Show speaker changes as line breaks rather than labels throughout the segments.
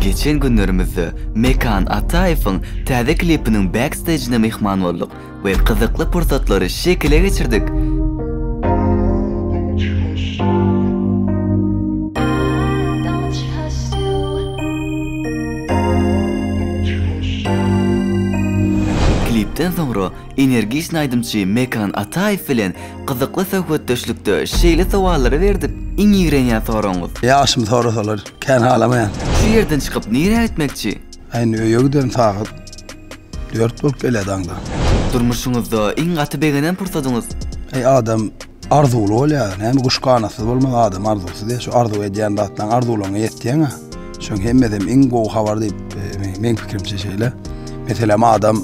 Geçen günlerimizde Mekan Ataýewiň täze klipiniň backstejine myhman bolduk we gyzykly pursatlary şekile geçirdik. Klipden soňra Energiçni aýdymçy Mekan Ataýew bilen gyzykly söhbetdeşlikde şeýle sowallary berdik, Iň ýigrenýän soragyňyz? Ýagşymy sorasalar,
kän halamaýan. Şu ýerden çykyp
nirä gitmekçi? Indi öýe giderin
sagat dört bolup gelýär daňdan. Durmuşyňyzda
iň gaty begenen pursadyňyz? Eý adam
arzuwly bolýar, näme guş ganatsyz bolmaz adam arzuwsyz ýa şu arzuw edýän zatlaň arzuwlaňa ýetýäňä şoň hemmedem iň gowy habar diýip meň pikirimçe şeýle meselem adam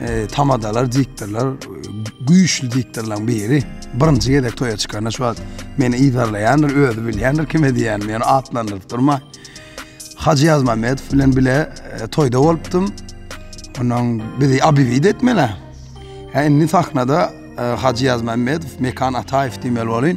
E, tamadalar, diktorlar, güýçli diktorlaryň biri. Birinji gezek toýa çykanda şu wagt meni ýerleýändir, özi bilýändir kime diýen, meni atlandyryp durma. Hajy Ýazmamedow bilen bile e, toýda bolupdym. Onuň bizi abiwid etmeli. Hä indi sahnada e, Hajy Ýazmamedow, Mekan Ataýew diýmeli bolýar.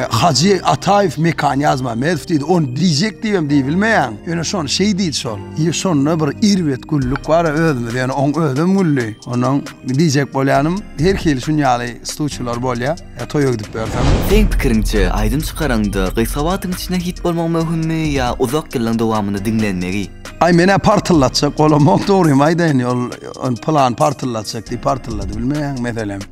Hajy Ataýew mekan ýazmamedow diýdi. Ony diýjek diýibem diýbilmeýän. Ýöne şony şeý diýdi şol. Ýe şonda bir erbet güllük bar özümiz ýöne oň özem güldi. Ondan diýjek bolýanym her hili şun ýaly stuçylar bolýa. Toýa gidip ýörsem. Seň pikiriňçe
aýdym çykaraňda gysga wagtyň içinde hit bolmagy möhümmi ýa uzak ýyllaň dowamynda diňlenmegi? Aý menä
partyllatjak golamok dogrymy aýdaýyn ol pylan partyllatjak diýip partyllady bilmeýän meselem.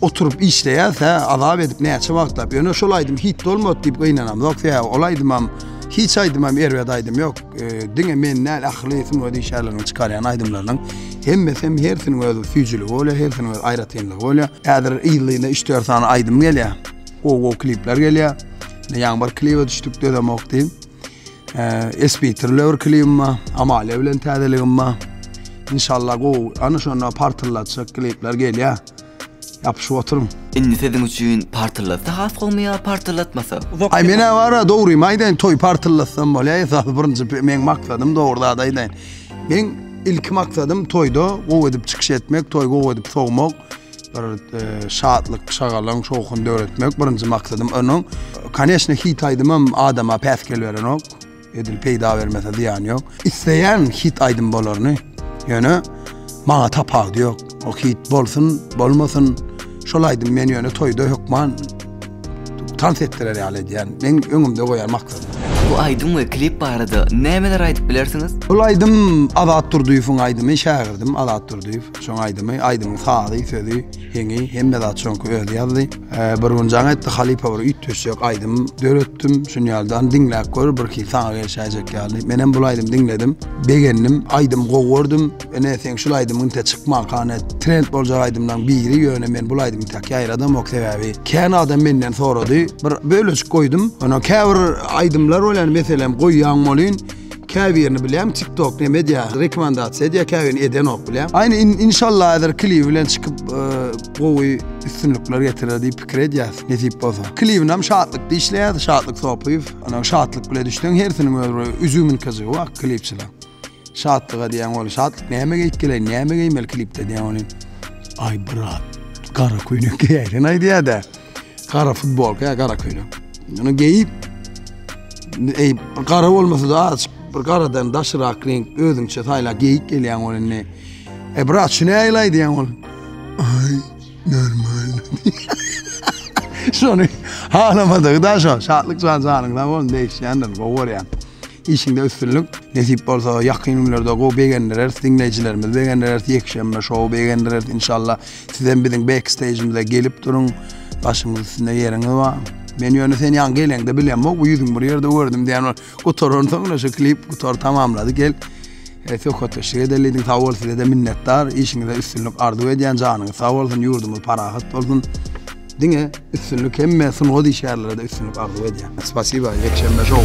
oturyp işleýäs hä azap edip näçe wagtlap ýöne şol aýdym hit bolmady diýip gynanam ýok sebäbi ol aýdymam hiç aýdymam erbet aýdym ýok e, diňe men näl ähli sunga işgärleriniň çykarýan aýdymlarynyň hemmesi hem hersiniň öz süýjüligi bolýar hersiniň öz aýratynlygy bolýar häzir ýyllyna üç dört sany aýdym gelýär gowy gowy klipler gelýär ýaňy bir klibe düşdük dözemok diýip Esbitir löwür klibim bar. Amalia bilen täzeligim bar. İnşallah gowy, ana şonda partylatjak klipler gelýär. Ýapyşyp oturyň. Indi siziň üçin
partylatsa has gowmy ýa partylatmasa? Aý men awara
dogrymy aýdaýyn toý partylatsam bolýa esasy birinji meň maksadym dogry zat aýdaýyn. Meň ilki maksadym toýda gowy edip çykyş etmek, toý gowy edip sowmak. Bir şatlyk, şagalaň, şowhun döretmek birinji maksadym. Onuň, koneçne, hit aýdymam adama päsgel berenok. Edil peýda bermese zyýany ýok. Isleýän hit aýdym bolaryny. Ýöne maňa tapawudy ýok. O hit bolsun, bolmasyn, şol aýdym meni ýöne toýda hökman tans etdirer ýaly edýän. Meň öňümde goýan maksadym. Bu aýdym we
klip barada nämeler aýdyp bilersiňiz? Bul aýdym
Azat Durdyýewiň aýdymy, şägirdim Azat Durdyýew. Şoň aýdymy, aýdymyň sazy, sözi, heňi, hemme zat şoňky özi ýazdy. Bir gün jaň etdi halypa bir üýtgeşjek aýdym döretdim. Şun ýaldan diňläp gör, bir ki saňa gelşäýjek ýaly. Men hem bu aýdymy diňledim. Begendim, aýdym gowy gördüm. Ene sen şul aýdymyň te çykma kane. Trend boljak aýdymlaň biri ýöne men bu aýdymy te ýaýradamok sebäbi. Kän adam menden sorady. Bir bölejik goýdum. Ene käbir aýdymlar bolýar, meselem goýýan bolýan. Käbirini bilýän tik tok ne media rekomendasiýa edýär käbirini edenok bilýän. Aýna inşallah häzir klibi bilen çykyp e, gowy üstünlikler getirer diýip pikir edýäs nesip bolsa. Klibinam şatlyk diýişleýär şatlyk sopyýew. Ana şatlyk bilen düşdüň hersiniň öz bir üzümin kyjygy bar klipçiler. Şatlyga diýen ol şatlyk näme geýip geleýin näme geýmeli klipde diýen ol. Ay brat gara köýnek geýäýin aýdýar-da. Gara futbolka ya gara köýnek. Bunu geyip ey gara olmasa da azıcık bir garadan daşyrak renk özüňçe sayla geyik gelýän ol indi. E brat şu näýil aýdýan ol? Ay normal. Şony halamadygy da şu. Şatlyk jan janyň sag bolsun degişýändir. Gowy görýän. İşinde üstünlik. Nesip bolsa yakın günlerde go begendireris. Dinleyicilerimiz begendireris. Yekşembe şow begendireris inşallah. Sizem biziň backstage'imize gelip duruň. Başymyz üstünde ýeriňiz bar. Men ýöne sen ýaňy geleňde bilemok, bu ýüzüňi bir ýerde gördüm diýen ol. Gutaran soň şu klip gutar tamamlady gel. E, söhbetdeşlik edeli diýdim. Sag bol size de minnetdar. Işiňizde üstünlik arzuw edýän. Janyňyz sag bolsun, ýurdumyz parahat bolsun. Diňe üstünlik hemme sungat işgärlere de üstünlik arzuw edýän. Spasiba, ýekşenbe şou.